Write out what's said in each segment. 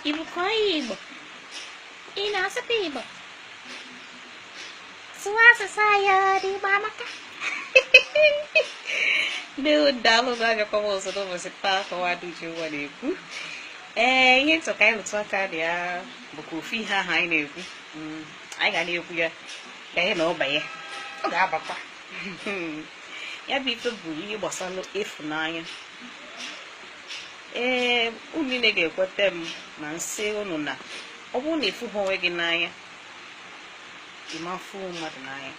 ị bụkwa onye Igbo ị na-asụkwa Igbo sụọ asụsụ anyị ọdị Igbo amaka ndị daalụ na abịakwa m ọzọ n'ụbọchị taa akọwa dị uche ụwa na-ekwu ee ihe m chọ ka anyị rụtụ aka dị ya bụkwa ofu ihe ahụ anyị na-ekwu mm, anyị ga na-ekwu ya ganye na ọ banye ọ ga-abakwa ya bụ ife bụ ihe gbasara ịfụnanya ee unu niile ga-ekweta m ma m sị unu na ọ bụrụ na ịfụghị onwe gị n'anya ị ma afụ mmadụ n'anya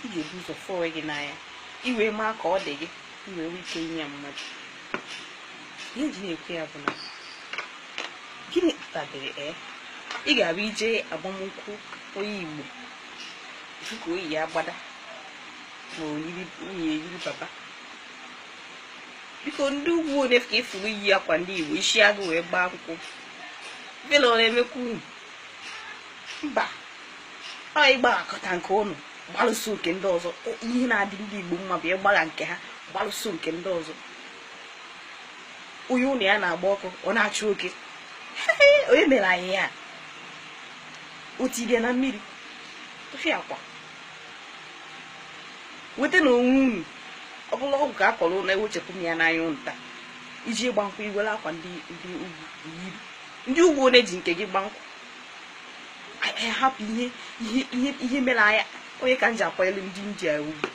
ị ga-ebu ụzọ fụ onwe gị n'anya i wee maa ka ọ dị gị i wee nwee ike inye mmadụ ihe m ji na-ekwu ya bụ na gịnị kpatadịrị e ị ga-abụ i je agbamnkwụ onye igbo dịka o yi agbada ma o yiri nwunye eyiri baba biko ndị ugwu onye ka ị fụrụ yi akwa ndị igbo isi agụ wee gbaa akwụkwọ vela ọ na-emekwanụ mba ọ ịgbaghakọta nke unu gbalụso nke ndị ọzọ ihe na-adị ndị igbo mma bụ ịgbagha nke ha gbalụso nke ndị ọzọ onye ụlọ ya na-agba ọkụ ọ na-achụ oke onye mere anyị ihe a o tibia na mmiri tụfịakwa wetanụ onwe unu ọ bụlụ ọgwụ ka a kọrọ unu ewechapụ m ya n'anya unu taa i je ịgba nkwụ i were akwa ndị ndị ugwu yiri ndị ugwu one ji nke gị gbaa nkwụ anyị hapụ ihe ihe ihe ihe mere anyị onye ka m ji akwanyere ndị india ugwu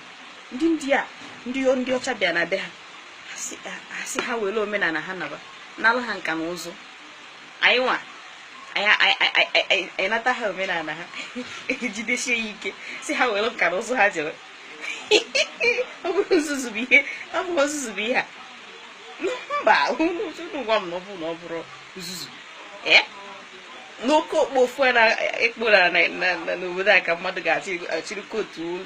ndị india ndị ndị ọcha bịa na be ha a sị ha were omenala ha naba n'ala ha nka na ụzụ anyị nwa anyị a- a- a- a- a- anyị nata ha omenala ha jidesie ya ike sị ha were nka na ụzụ ha jere ọ bụrụ nzuzu bụ ihe ọ bụrụ nzuzu bụ ihe a mba unu gwa m na ọ bụrụ na ọ bụrụ nzuzu ee n'oke okpofufu a na-ekpora na- na- na- n'obodo a ka mmadụ ga-achịrị kootu olu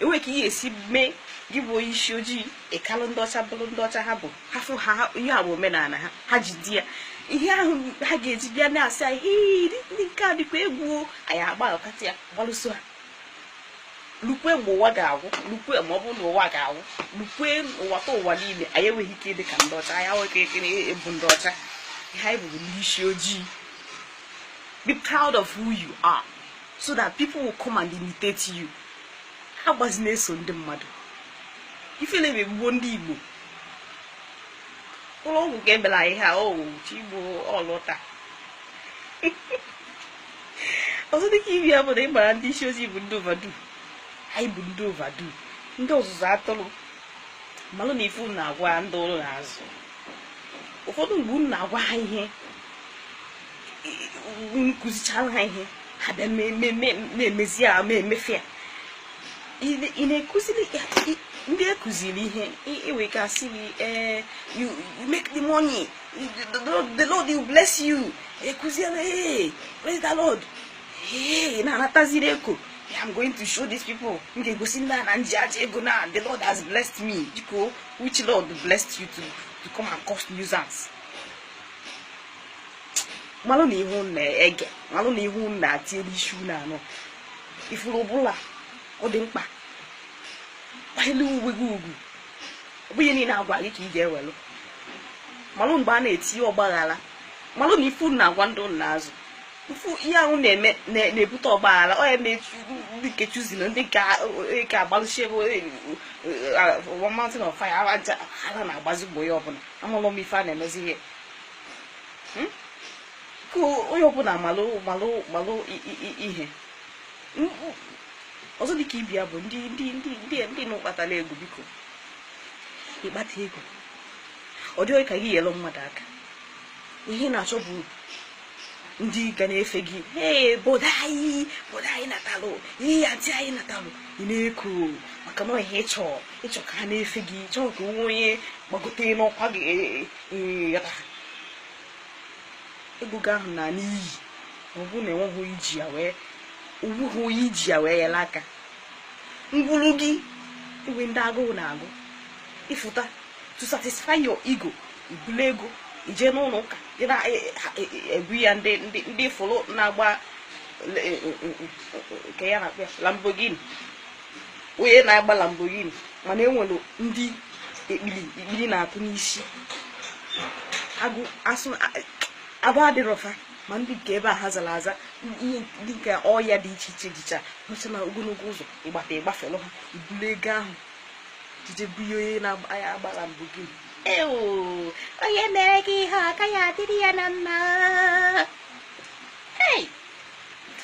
e nwere ka ị ga-esi mee gị bụ onye isi ojii ị kalụ ndị ọcha bụrụ ndị ọcha ha bụ ha fụ ha ihe a bụ omenala ha ha jide ya ihe ahụ ha ga-eji bịa na-asị anyị ndị nke a dịkwa egwu anyị agbaghọkata ya gbalụso ha lukwe mgbe ụwa ga-agwụ lukwe ma ọ bụrụ na ụwa ga-agwụ lukwe ụwa ta ụwa niile anyị enweghị ike ịdị ka ndị ọcha anyị enweghị ike ịbụ ndị ọcha ihe anyị bụ bụ ndị isi ojii be proud of who you are so that people will come and imitate you ha gbazi na-eso ndị mmadụ ifele na-egbugbo ndị igbo ụlọ ọgwụ ka ebela anyị ha o oh, chi igbo ọlụta ọzọ dịka ibe ya bụ na ịgbara ndị isi ozi bụ ndị ovadu anyị bụ ndị ovadu ndị ọzụzụ atụrụ malụ na ife na-agwa ndị unu na-azụ ụfọdụ mgbe unu na-agwa ha ihe unu kụzichara ha ihe ha bịa na-emezi ya ma emefe ya ị na-ekụziri ndị ekụziri ihe iwe ka asị gị ee you make the money the lord will bless you ekụziere ee praise the lord ee na-anataziri eko I'm going to show these people m ga-egosi ndị a na m ji aja ego na the lord has blessed me biko which lord blessed you to, to come and cause nuisance malụ nụ ihe unu na-ege malụ nụ ihe unu na-etinye n'isi unu anọ ifuru ọbụla ọ dị mkpa kwanyere onwe gị ugwu ọ bụghị ihe niile a gwa gị ka ị ga-ewelụ malụ mgbe a na-etinye ọgbaghara malụ na ife unu na-agwa ndị unu na-azụ mfu ihe ahụ na-eme na- na-ebute ọgbaghara ọ ya mee ndị nke chosen na ndị nke a- nke agbalụsi ebe one mountain of fire aja ha na-agbazi mgbe onye ọbụla amalụ m ife a na-emezi ihe hmm? ka onye ọbụla malụ malụ malụ ihe ọzọ dịka ibe ya bụ ndị ndị ndị ndị ndị nụ kpatara ego biko ị kpata ego ọ dị gị ka ị yelụ mmadụ aka ihe ị na-achọ bụ ndị ga na-efe gị ee obodo anyị obodo anyị natalụ ihe ya ntị anyị natalụ ị na-eko maka na ihe ị chọ ị chọ ka ha na-efe gị chọọ ka o nwee onye gbagote n'ọkwa gị ego gị ahụ naa n'iyi ọ bụ na o nweghị i ji ya wee o nweghị onye i ji ya wee yere aka ngwuru gị e nwe ndị agụụ na-agụ ị fụta to satisfy your ego i bulu ego gị jee n'ụlọ ụka egwu ya ndị fụrụ na-agba nke a na-akpọ ya Lamborghini onye na-agba Lamborghini mana enwere ndị ekpiri ekpiri na-atụ n'isi agụ asụ ahụ adịrọ fa mma ndị nke ebe ha zara aza ihe ndị nke ọya dị iche iche dịcha nọcha na ogologo ụzọ ị gbata ị gbafelụ ha i bulu ego ahụ jee je bunye onye na-agba Lamborghini ewo onye mere gị ihe ọ gaghị adịrị ya na mma hei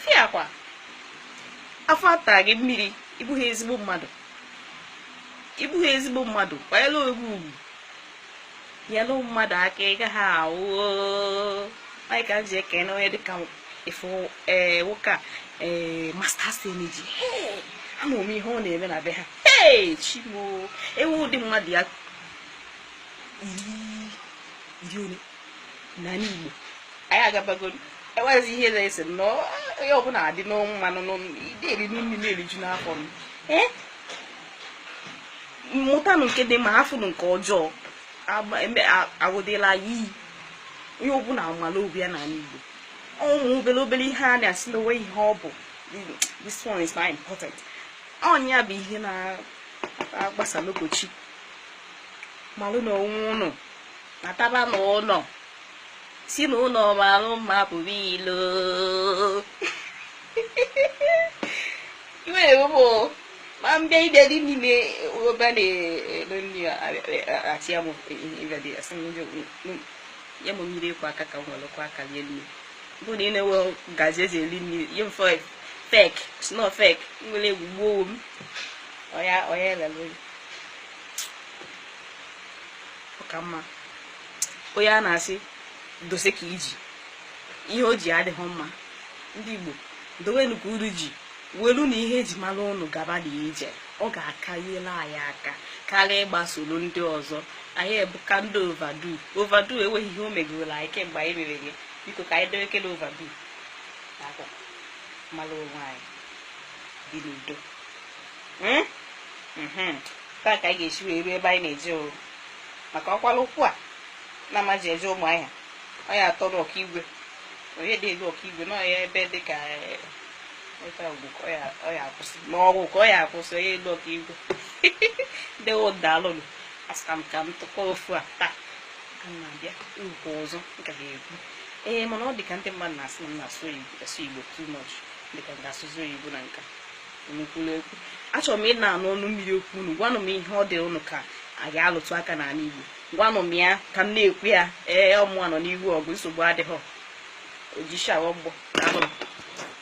fiakwa afọ ata gị mmiri ị bụghị ezigbo mmadụ ị bụghị ezigbo mmadụ kwanyere onwe gị ugwu nyere mmadụ aka ị gaghị ahụ anyị ka m ji ekene onye dịka efu ee nwoke a ee Masters Energy Hey! ama m ihe ọ na-eme na be ha Hey! chi m o e nwee ụdị mmadụ ya iri iri ole na n'igbo anyị agabagoro enweghịzi ihe na-ese m na onye ọbụla adị n'ọnụ mmanụ n'ịdị eri n'imi na-eriju n'afọ m ee mụtanụ nke dị mma hafụnụ nke ọjọọ aghụdịla ya iyi onye ọbụla amala obi ya n'ala igbo ụmụ obere obere ihe a na-asị na o nweghị ihe ọ bụ this one is not important ọ ya bụ ihe na-agbasa n'obochi malụnụ onwe ụnụ nataba n'ụlọ si na ụlọ mara mma pụọ ilo iwere ụmụ ma m bịa ịbịa dị n'ime obe na-elo nri achịa m ịbịa dị asị m ndị nye m mmiri ịkwọ aka ka m were kwọọ aka lie nri bụ na ị na-enwe ngazi eji eri nri nye m fork fork sno fork nwere egwu gbuo m ọya ọya elele ọ ka mma onye a na-asị dose nke i ji ihe o ji adịghị mma ndị igbo dowenụ nke ụnụ ji welunụ ihe eji mara ụnụ gaba na ije ọ ga-akanyela anyị aka karịa ịgbasoro ndị ọzọ anyị abụka ndị overdo overdo enweghị ihe o megoro anyị kemgbe anyị mere gị biko ka anyị dewekene overdo mara onwe anyị dị n'udo Hmm? Mhm. etu a ka anyị ga-esi wee ruo ebe anyị na-eje o maka ọkwala ụkwụ a na-amaji eje Ụmụahịa ọ ya atọrọ Okigwe onye dị elu Okigwe na ọya ebe dị ka eh, nweta ugwu ka ọ ya- ọ ya akwụsị ma ọgwụ ka ọ ya akwụsị onye elu Okigwe ndị daalụnụ a sị ka m ka m tụkọ ofu a taa ka m na-abịa okwu ọzọ m ka ga-ekwu ee mana ọ dị ka ndị mmadụ na-asị na m na-asụ Igbo- asụ igbo too much dị ka m ga-asụzi oyibo na nke a unu kwuru okwu achọrọ m ịna-anụ ọnụ mmiri okwu unu gwanụ m ihe ọ dị unu ka a ga-alụtụ aka n'ala Igbo gwanụ m ya ka m na-ekwu ya ee ọ mụwa nọ n'ihu ọgụ nsogbu adịghị ojishawa ọgbọ